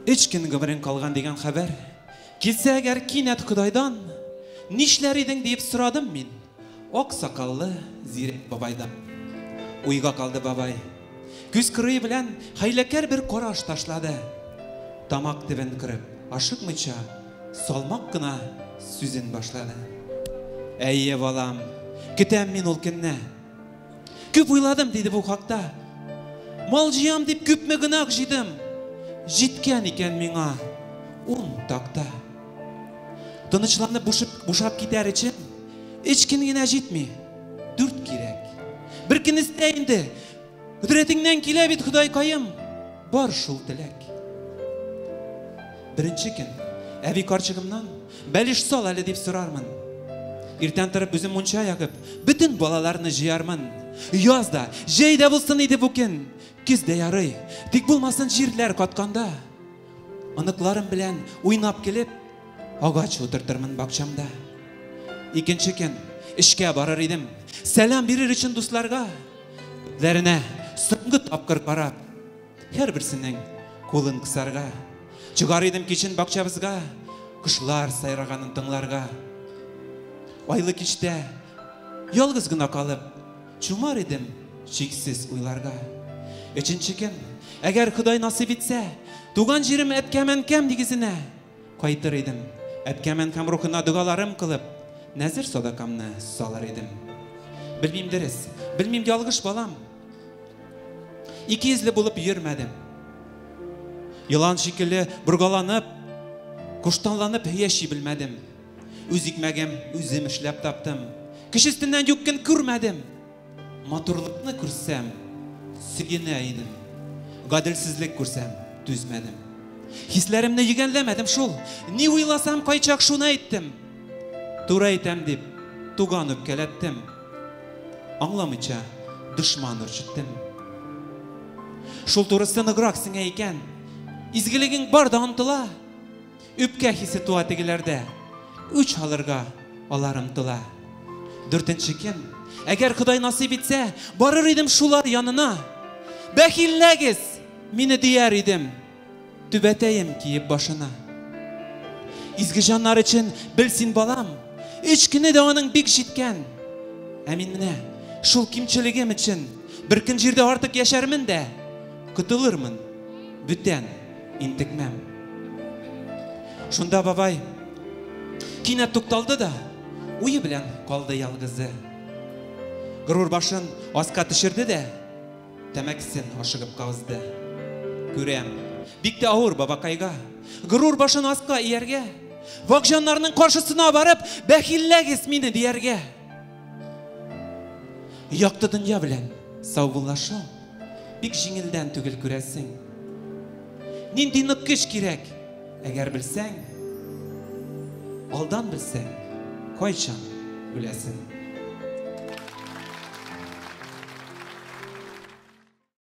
Өч көн гомерең калган дигән хәбәр. Килсә әгәр кинәт Кудайдан, нишләр идең диеп сорадым мин. Ак сакаллы зирәк бабайдан. Уйга калды бабай. Күз кырые белән хәйләкәр бер караш ташлады. Тамак төбен кырып, ашыкмыйча, салмак кына сүзен башлады. Әйе, балам, көтәм мин ул көнне. Күп уйладым, диде бу хакта. Мал җыям дип күпме гөнаһ җыйдым. Җиткән икән миңа ун такта. Тынычланып бушып, бушап китәр өчен, өч көн генә җитми. Дүрт кирәк. Бер көн истә инде. Хөдрәтеңнән килә бит, Ходай каем. Бар шул теләк. Беренче көн әби карчыгымнан бәлеш сал әле дип сорармын. Иртән торып үзем мунча ягып, бөтен балаларны җыярмын. Яз да, җәй дә булсын иде бу көн. Көз дә ярый, тик булмасын җирләр катканда. Оныкларым белән уйнап килеп, агач утыртырмын бакчамда. Икенче көн эшкә барыр идем. Сәлам бирер өчен дусларга. Күзләренә соңгы тапкыр карап, һәрберсенең кулын кысарга. Чыгар идем кичен бакчабызга, кошлар сайраганын тыңларга. Айлы кичтә ялгыз гына калып, Чумар идем чиксез уйларга. Өченче кем? Әгәр Ходай насыйп итсә, туган җирем Әпкәмәнкәм нигезенә кайтыр идем. Әпкәмәнкәм рухына догаларым кылып, нәзер садакамны салыр идем. Белмим дөрес, белмим ялгыш балам. Икейөзле булып йөрмәдем. Елан шикелле боргаланып, куштанланып яши белмәдем. Үз икмәгем үзем эшләп таптым. Кеше өстеннән юк көн күрмәдем. Матурлыкны күрсәм, сөенә идем. Гаделсезлек күрсәм, түзмәдем. Хисләремне йөгәнләмәдем шул. Ни уйласам, кайчак шуны әйттем. Туры әйтәм дип, туган үпкәләттем. Аңламыйча, дошман үрчеттем. Шул турысы ныграк сеңә икән. Изгелегең бар да онтыла. Үпкә хисе туа тегеләрдә, үч алырга алар омтыла. Дүртенче кем? Әгәр Ходай насыйп итсә, барыр идем шулар янына. Бәхилләгез, мине дияр идем, түбәтәем киеп башына. Изге җаннар өчен бел син балам, өч көне дә аның бик җиткән. Ә мин менә шул кимчелегем өчен бер көн җирдә артык яшәрмен дә, котылырмын бүтән Интекмәм. Шунда бабай кинәт тукталды да, уе белән калды ялгызы. Горур башын аска төшерде дә, тәмәкесен ашыгып казды. Күрәм, бик тә авыр бабакайга. Горур башын аска ияргә, вак җаннарның каршысына барып, бәхилләгез мине дияргә. Якты дөнья белән саубуллашу Бик җиңелдән түгел, күрәсең. Нинди нык көч кирәк, әгәр белсәң, алдан белсәң, кайчан үләсең.